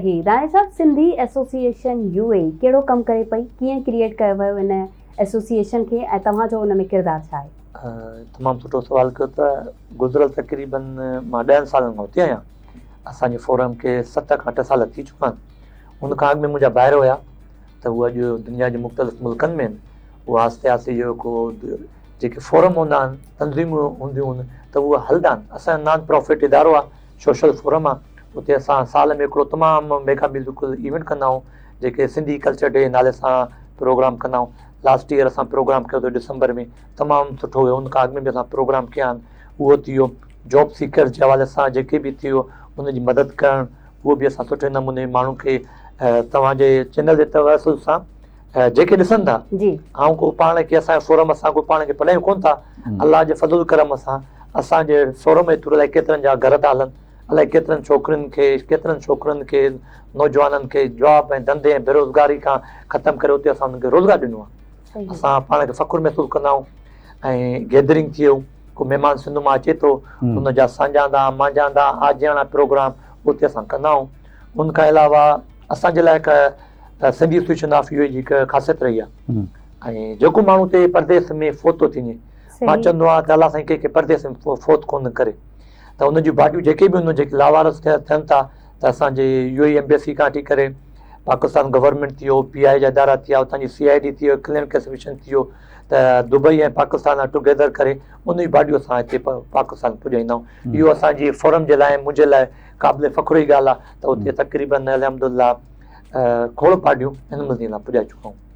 هي راڻي صاحب Sindhi association U A E ڪهڙو ڪم ڪري پئي ڪيئن ڪريئيٽ ڪيو ويو ان ايسوسيئيشن کي ۽ توهان جو ان ۾ ڪردار ڇا آهي؟ تمام سٺو سوال ڪيو ته گذريل تقريباً مان ڏهن سالن کان اتي آهيان اسان جي فورم کي ست کان اٺ سال ٿي چڪا آهن ان کان اڳ ۾ منهنجا ڀائر هيا ته هو اڄ دنيا جي مختلف ملڪن ۾ هو آهستي آهستي جو ڪو جيڪي فورم هوندا آهن تنظيمون هونديون آهن ته هو هلدا آهن اسان جو نان پرافٽ ادارو آهي سوشل فورم آ اتي اسان سال ۾ هڪڙو تمام ميگا ميوزيڪل ايونٽ ڪندا آهيون جيڪي سنڌي ڪلچر ڊي نالي سان پروگرام ڪندا آهيون لاسٽ ايئر اسان پروگرام ڪيو اٿو ڊسمبر ۾ تمام سٺو ويو ان کان اڳ ۾ به اسان پروگرام ڪيا آهن اهو ٿي ويو جاب سيڪرز جي حوالي سان جيڪي به ٿيو ان جي مدد ڪرڻ اهو به اسان سٺي نموني ماڻهن کي توهان جي چينل جي توسل سان جيڪي ڏسن ٿا آئون ڪو پاڻ کي اسان جي فورم اسان ڪو پاڻ کي پلهايون ڪونه ٿا الله جي فضل ڪرم سان اسان جي فورم جي ٿرو الائي ڪيترن جا گهر ٿا هلن الائي ڪيترن ڇوڪرين کي ڪيترن ڇوڪرن کي نوجوانن کي جاب ۽ ڌنڌي ۽ بيروزگاري کان ختم ڪري اتي اسان انهن کي روزگار ڏنو آهي اسان پاڻ کي فخر محسوس ڪندا آهيون ۽ گيدرنگ ٿئي ڪو مهمان سنڌ مان اچي ٿو ان جا سانجهاندا مانجهاندا آجياڻا پروگرام اتي اسان ڪندا آهيون ان کان علاوه اسان جي لاء هڪ ته Sindhi association of U A E هڪ خاصيت رهي آهي ۽ جيڪو ماڻهو اتي پرديس ۾ فوت ٿو ٿيني مان چوندو آهيان ته الله سائين ڪنهن کي پرديس ۾ فوت ڪونه ڪري ته ان جون باڊيون جيڪي به هن جيڪي لاوارس ٿين ٿا ته اسانجي يو اي ايمبيسي کان ٺي ڪري پاڪستان گورنمنٽ ٿي ويو پي آء جا ادارا ٿي ويا اتان جي سي آء ڊي ٿي ويو ڪلين ڪيسميشن ٿي ويو ته دبئي ۽ پاڪستان ٽو گيدر ڪري ان جي باڊيون اسان هتي پاڪستان پڄائيندا آهيون اهو اسانجي فورم جي لاء منهنجي لاء قابل فخر جي ڳالهه آهي ته اتي تقريبن الحمد الله کوڙ پارٽيون هن مزي لاء پڄائي چڪائون.